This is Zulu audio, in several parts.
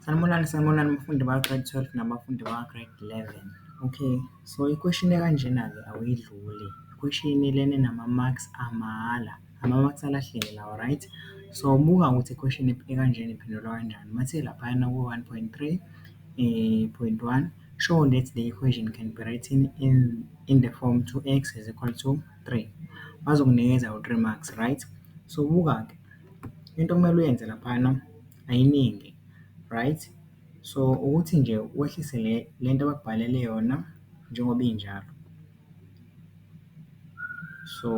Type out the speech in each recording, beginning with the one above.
Sanibonani, sanibonani bafundi baka-grade twelve nabafundi baka-grade eleven. Okay, so ikhweshini ekanjena-ke awuyidluli, ikhweshini lena enama-marks amahhala, ama-marks alahleke lawa right. So buka ukuthi ikhweshini ekanjena iphendulwa kanjani, uma uthe laphayana ku-one point three point one, show that the equation can be written in in the form two X is equal to three. Bazokunikeza u-three marks right. So buka-ke. into okumele uyenze laphayana ayiningi right. So, ukuthi nje wehlise le le nto abakubhalele yona njengoba injalo. So,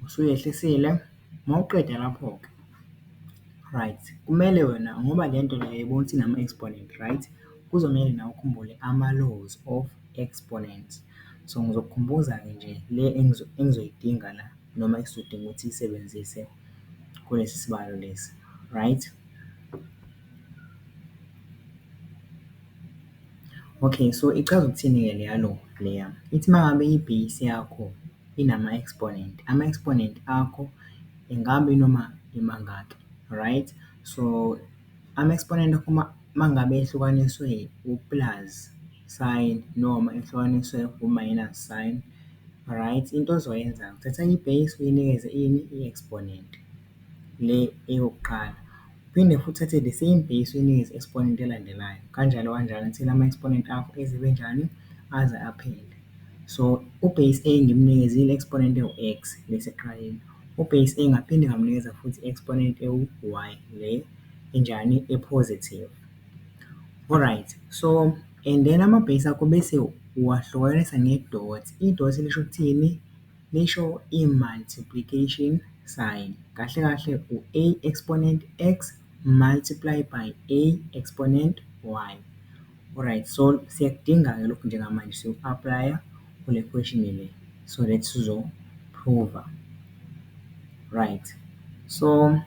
usuyehlisile mawuqeda lapho-ke right kumele wena ngoba le nto le uyayibona ukuthi inama-exponent right, kuzomele nawe ukhumbule ama-laws of exponent. So, ngizokukhumbuza-ke nje le engizoyidinga la. noma esizodinga ukuthi siyisebenzise kulesi sibalo lesi, right. Okay, so ichaza ukuthini-ke le yalo leya? Ithi uma ngabe i-base yakho inama-exponent, ama-exponent akho ingabe inoma imangaki, right. So, Ama-exponent aphuma uma ngabe ehlukaniswe u-plus sign noma ehlukaniswe u-minus sign, right? Into ozoyenza-ke uthatha i-base uyinikeze ini? I-exponent, le eyokuqala. Uphinde futhi uthathe the same base uyinikeze i-exponent elandelayo, kanjalo kanjalo until ama-exponent akho eze ebe njani? Aze aphele. So, u-base a ngimnikeze i-exponent ewu-x, le eseqaleni. UBase A ngaphinde ngamunikeza futhi i-exponent ewu-y le enjani? E-positive. Alright, so and then ama-base akho bese uwahlukanisa nge-dot. I-dot lisho ukuthini? Lisho i-multiplication sign. Kahle kahle u-a exponent x multiply by a exponent y. Alright so siyakudinga-ke lokhu njengamanje siyoku-aplaya kule question-i le so that sizophruva. Right, so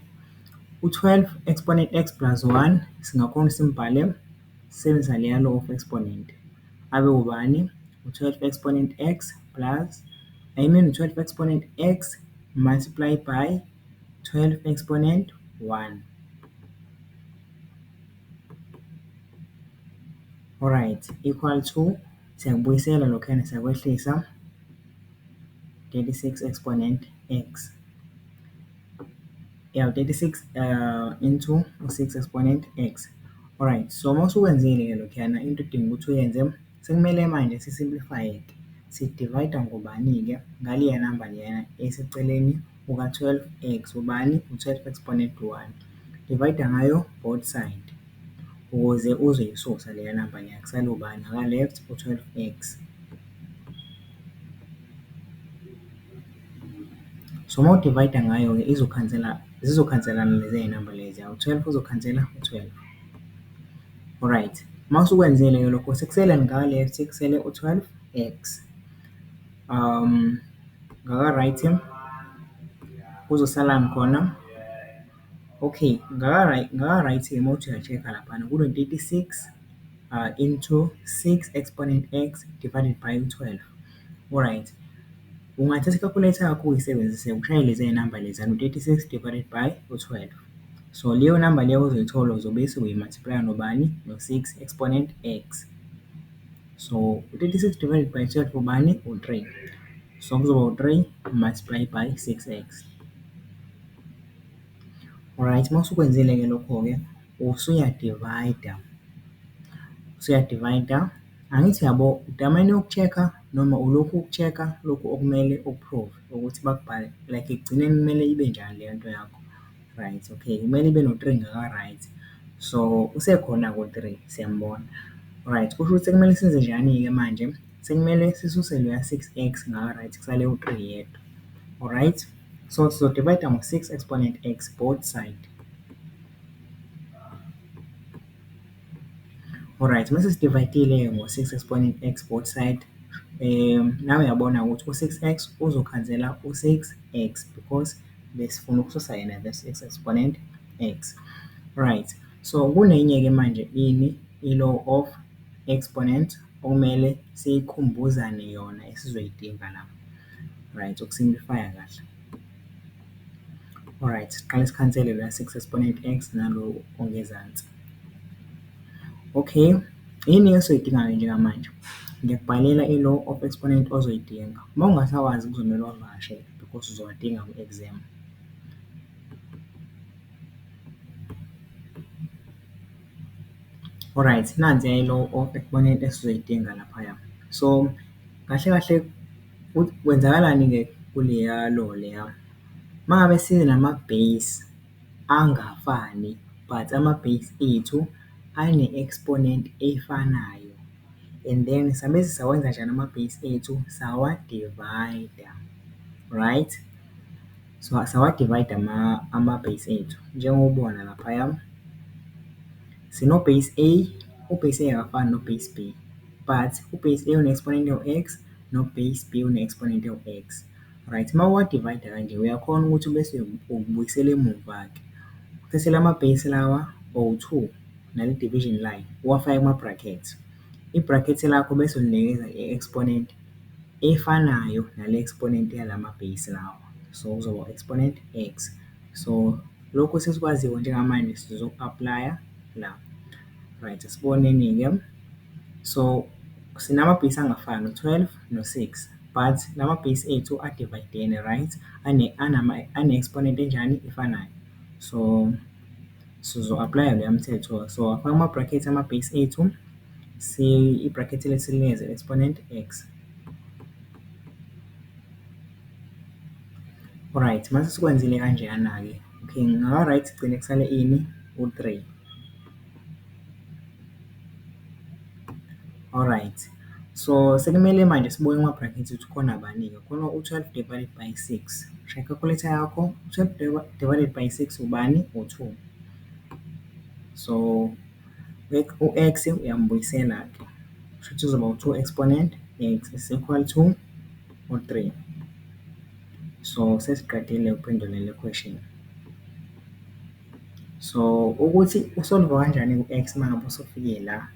u-twelve exponent x plus one singakhona ukuthi simbhale sisebenzisa leya law of exponent abe ubani? U-twelve exponent x plus I mean u-twelve exponent x multiply by twelve exponent one. Alright, equal to siyakubuyisela lokhuyana siyakwehlisa, 36 exponent x. Ya 36 into u-6 exponent x. Alright, so uma usukwenzile-ke lokhuyana into odinga ukuthi uyenze. Sekumele manje si simplify it, si divide ngobani ke, ngaleya number leyana eseceleni kuka 12 x, ubani u 12 exponent 1, divide ngayo both side ukuze uzoyisusa leya number leya kusale ubani ngaka left u 12 x. So uma u divide ngayo ke izokhansela zizokhanselana leziya number leziya u 12 uzokhansela u 12. Alright, uma usukwenzile-ke lokho sekusele ngale sekusele u-twelve X. Ngaka-right kuzosalani khona? Okay, ngaka-right, ngaka-right uma uthi uya-check-a laphana kuno-thirty six into six exponent X divided by u-twelve. Alright, ungathatha i-calculator yakho uyisebenzise ushayele leziya namba leziya u-thirty six divided by u-twelve. So leyo number leyo ozoyithola uzobe sewuyi-multiply-a nobani? No-six exponent X. So, u-thirty-six divided by twelve ubani? U-three. So, kuzoba u-three multiply by six X. Alright, uma usukwenzile-ke lokho-ke usuyadivayida, usuyadivayida. Angithi uyabo, udamane uku-check-a noma ulokhu uku-check-a lokhu okumele uku-prove-e? ukuthi bakubhale like ekugcineni kumele ibe njani leyo nto yakho, right okay kumele ibe no-three ngaka-right. So, usekhona-ke u-three siyambona, right kusho ukuthi sekumele senzenjani-ke manje? Sekumele sisuse loya six x ngaka-right kusale u-three yedwa, o-right? So, sizo-divide-a ngo-six exponent x both side. Alright, mese sidivayidile-ke ngo-six esibone i-X both side, nawe uyabona ukuthi u-six X uzokhansela u-six X because besifuna ukususa yena this X exponent X. Alright, so kunenye-ke manje ini, i-law of exponent okumele sikhumbuzane yona esizoyidinga la, right, uku-simplify-a kahle. Alright, siqale sikhansele la six exponent X nalo ongezansi. Okay, yini esoyidingayo njengamanje? Ngiyakubhalela i-law of exponent ozoyidinga. Uma ungasawazi kuzomele uwavakashele because uzowadinga kwi-exam. Alright, nansi-ke i-law of exponent esizoyidinga laphaya. So, kahle kahle. Ukuthi kwenzakalani-ke kuleya law leya, uma ngabe sinama-base angafani but ama-base ethu ane-exponent efanayo and then sabe sawenza kanjani ama-base ethu, sawa-divide-a, right? So, sawa-divide-a ama-base ethu, njengoba ubona laphaya, sino-base A, u-base A akafani no-base B but u-base A une-exponent ewu-X, no-base B une-exponent ewu-x. Right, uma uwa-divide kanje, uyakhona ukuthi ubese ubuyisela emuva-ke. Uthathe lama-base lawa owu-two, nale-division line, uwafake kuma-brackets. I-bracket lakho bese ulinikeza i-exponent efanayo nale-exponent yalama-base lawa. So, kuzoba u-exponent x. So, lokhu sesikwaziyo njengamanje sizoku-aplaya la. Right asiboneni-ke so sinamabhesi angafani u-twelve no-six but la mabhesi ethu adivayidene right, ane-exponent enjani? Efanayo. So sizo-aplaya loya mthetho so afake ama-bracket amabhesi ethu i-bracket le silinikeze exponent X. Right mase sikwenzile kanjeyana-ke okay ngingaba-right ekugcine kusale ini? U-three. Alright, so sekumele manje sibuke kuma-brackets ukuthi kukhona bani-ke. Khona u-twelve divided by six. Shaya i-calculator yakho, twelve divided by six ubani? U-two. So, u-X uyambuyisela-ke. Kushuthi kuzoba u-two exponent X is equal to u-three. So, sesiqedile ukuphendula le question. So ukuthi usolva kanjani ku-X uma ngabe usufike la,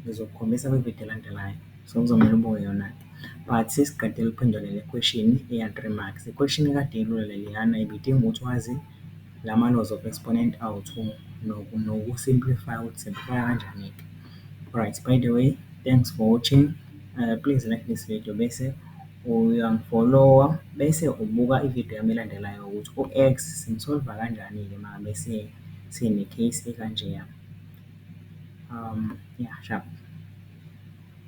ngizokukhombisa kwi-video elandelayo. So kuzomele ubuke yona-ke. But sisi qedela ukuphendula le question eya-three marks. Ikhweshini ekade ilula leliyana ibidinga ukuthi wazi la ma-laws of exponent awu-two noku-simplify ukuthi u-simplify-a kanjani-ke. Alright, by the way, thanks for watching. Please like this video bese uyangifolowa bese ubuka ividiyo yami elandelayo ukuthi u-X simu-solve-a kanjani-ke uma ngabe sine-case ekanjeya, ya shabo.